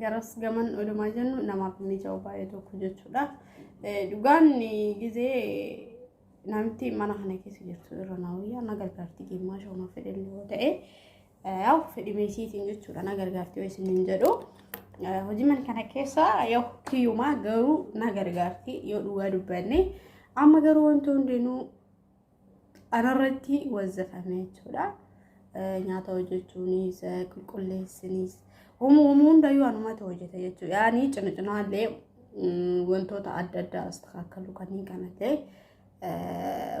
garas gaman odumaa jennu namaaf mija'u baay'ee tokko jechuudha. Dhugaan gizee namitti mana kana keessa jirtu irra na wayyaa na gargaarti geemmaa shooma fedhan yoo ta'e yaa'u fedhimee isiitiin jechuudha na gargaarti yoo isin hin jedhu. Hojii mana kana keessa yoo kiyyumaa garuu na gargaarti yoo dhugaa dubbanne amma garuu wanti hundinuu Anarratti wazzafame jechuudha. Nyaata hojjechuunis qulqulleessinis uumuu uumuu hundayyuu anumatu hojjeta jechuudha. Yaani cina cinaallee wantoota adda addaa asxaakkaluu kanneen kanallee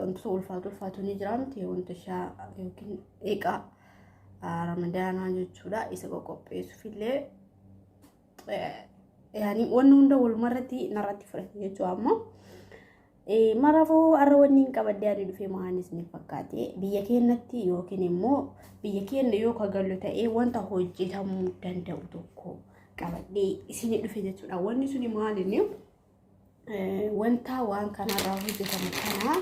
wantoota ulfaatu ulfaatu ni jira miti wanta shaa yookiin eegaa ramadaanaa jechuudha. Isa qoqqopheessuufillee yaani wanni hunda walumarratti narratti fudhate jechuudha ammoo. Maraafuu har'a wanni hin qabadde ani dhufee maanis ni fakkaate biyya keenyatti yookiin immoo biyya keenya yoo kagallu ta'ee wanta hojjetamuu danda'u tokko qabadhee isin dhufe jechuudha. Wanni suni maali inni? wanta waan kanarraa hojjetamu kana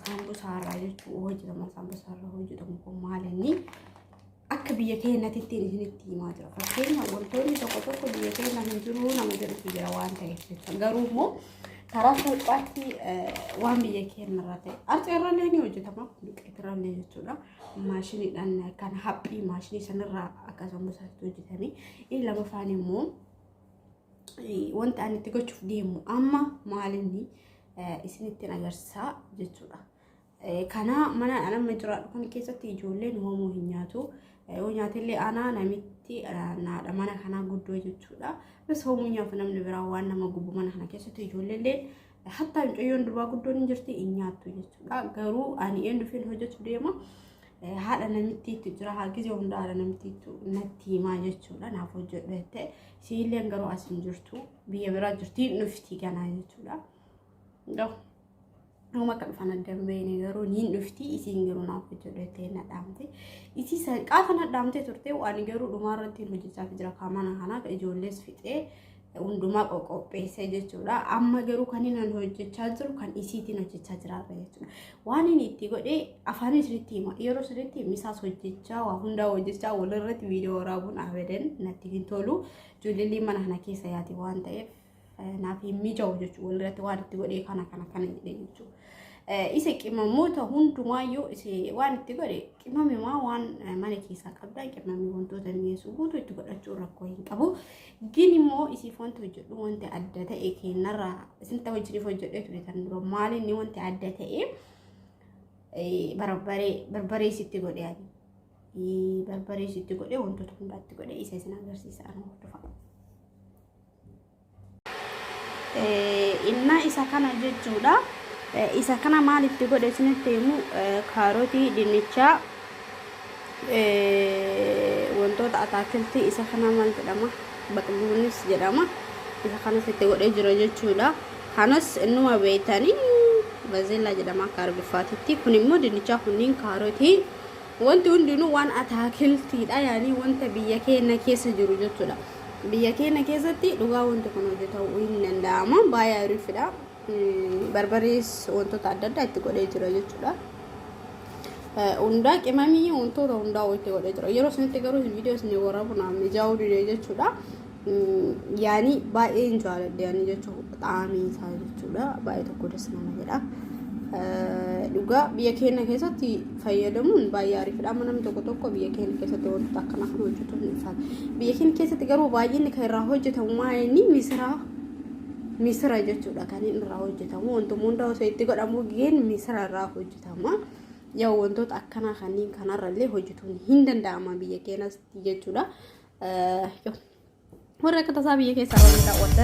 saambusaarraa jechuun hojjetama saambusaarraa hojjetamu kun maal inni akka biyya keenyatti ittiin isinitti himaa jira fakkeenya wantoonni tokko tokko biyya keenya hin jiru nama jedhutu jira waan ta'eef jechuudha garuu immoo karaa salphaatti waan biyya keenyarraa ta'e arceerrallee ni hojjetama duqeetirrallee jechuudha maashiniidhaan kan haphii maashinii sanarraa akka saambusaatti hojjetame Inni lamafaan immoo wanta ani itti gochuuf deemu amma maalinni isinittiin agarsiisaa jechuudha. Kana mana nama jiraadhu kan keessatti ijoolleen hoomuu hin nyaatu. Yoo nyaatellee aanaa namitti naadha mana kanaa guddoo jechuudha. Bas hoomuu nyaatu namni biraa waan nama gubu mana kana keessatti ijoolleellee Hattaa mucayyoon durbaa guddoon hin jirti hin nyaattu jechuudha. Garuu ani eenyufiin hojjetu deema haadha namittiitu jira haa gizee hunda haadha namittiitu natti himaa jechuudha naaf hojjedhu jettee siilleen garuu as hin jirtu biyya biraa jirti hin dhufti ganaa jechuudha. Nama akka dhufan adda hin beekne garuu niin dhufti isiin garuu naaf hojjedhu jettee na dhaamte. Isii san qaafa na dhaamtee turte waan garuu dhumaa irratti hin hojjechaa jira kaamana kanaa ijoollees fixee. hundumaa qoqopheessee jechuudha. Amma garuu kan inni hojjechaa jiru kan isiitiin hojjechaa jiraata jechuudha. Waan inni itti godhee afaan isinitti hima. Yeroo sirriitti misaas hojjechaa waa hundaa hojjechaa walirratti viidiyoo waraabuun abadan natti hin tolu. Ijoolleen mana kana keessa yaati waan ta'eef naaf hin mijaa'u jechuudha. Walirratti waan itti godhee kana kana kana jedhee jechuudha. Isa qimamoota hundumaayyuu waan itti godhe qimamimaa waan mana keessaa qabdan qimamii wantoota mi'eessu guutuu itti godhachuun rakkoo hin qabu. Gin immoo isiif wanti hojjedhu wanti adda ta'e kennarraa isinta wajjiniif hojjedhee ture kan dura maal inni wanti adda ta'e barbaree barbaree isitti godhe ani barbaree isitti godhe wantoota hundaatti godhe isa isin agarsiisa ani hordofa. Inna isa kana jechuudha. Isa kana maal itti godhe isinitti himu kaarotii dinnichaa Wantoota ataakiltii isa kanaa maal jedhama? Baqbuunis jedhama. Isa kanas itti godhee jira jechuudha. Kanas innuma beeytanii bazeellaa jedhama akka arabiffaatitti. Kun immoo dinnichaa kunniin kaarotii wanti hundinuu waan ataakiltiidha yaanii wanta biyya keenya keessa jiru jechuudha. Biyya keenya keessatti dhugaa wanti kun hojjetamu hin danda'ama. Baay'ee ariifidha. Barbarees wantoota adda addaa itti godhee jira jechuudha. Hundaa qimamii wantoota hundaa itti godhee jira. Yeroo isinitti garuu viidiyoo isin waraabu naaf mijaa'uu dide jechuudha. Yaani baay'ee hin jaaladhe yaani jechuudha. Xaamii isaa jechuudha. Baay'ee tokko das nama jedha. Dhugaa biyya keenya keessatti fayyadamuun baay'ee ariifadha. Amma namni tokko tokko biyya keenya keessatti wantoota akkana kan hojjetu hin isaati. Biyya keenya keessatti garuu baay'inni kan irraa hojjetamu maayini misiraa misira jechuudha kan inni irraa hojjetamu wantoonni hunda osoo itti godhamu geen misira irraa hojjetama yoo wantoota akkanaa kanneen kanarrallee hojjetuun hin danda'ama biyya keenas jechuudha warra akka tasaa biyya keessaa warra daawwadda